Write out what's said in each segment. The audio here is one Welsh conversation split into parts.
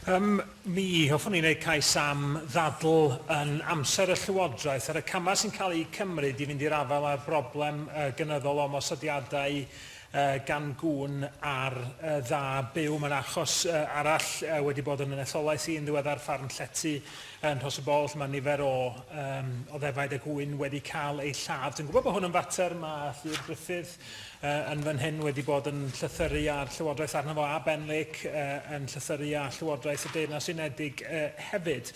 Ym mi, hoffwn i wneud cais am ddadl yn amser y Llywodraeth ar y camau sy'n cael eu cymryd i fynd i'r afael â'r broblem gynyddol o ymosodiadau gan gŵn ar dda byw. Mae'n achos arall wedi bod yn yn etholaeth i yn ddiweddar, ffarm llety yn Rhos y Bol, lle mae nifer o ddefaid a gŵyn wedi cael eu lladd. Dwi'n gwybod bod hwn yn fater, mae Llyr Gruffydd yy yn fan hyn wedi bod yn llythyru â'r Llywodraeth arno fo a Ben Lake yy yn llythyru â Llywodraeth y Deyrnas Unedig yy hefyd.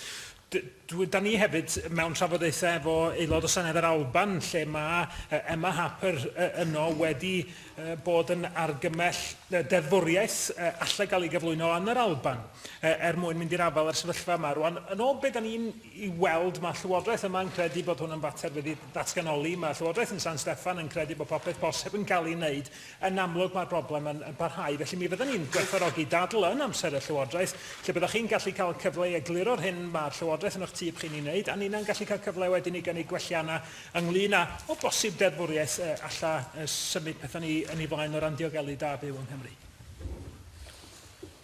Dwi, da ni hefyd mewn trafodaethau efo aelod o Senedd yr Alban lle mae uh, Emma Harper uh, yno wedi uh, bod yn argymell uh, deddfwriaeth uh, allai gael ei gyflwyno yn yr Alban uh, er mwyn mynd i'r afael â'r sefyllfa yma. Rwan, yn ôl beth da ni'n i weld, mae Llywodraeth yma yn credu bod hwn yn fater wedi datganoli, mae Llywodraeth yn San Steffan yn credu bod popeth posib yn cael ei wneud, yn amlwg mae'r broblem yn, yn parhau, felly mi fyddwn ni'n gwerthorogi dadl yn amser y Llywodraeth, lle byddwch chi'n gallu cael cyfle i egluro'r hyn mae'r Llywodraeth yn eich tyb chi'n ei wneud, a ninnau'n gallu cael cyfle wedyn i gynnig gwelliannau ynglyn â, o bosib, deddfwriaeth uh, alla uh, symud pethau ni yn ei flaen o ran diogelu da byw yng Nghymru.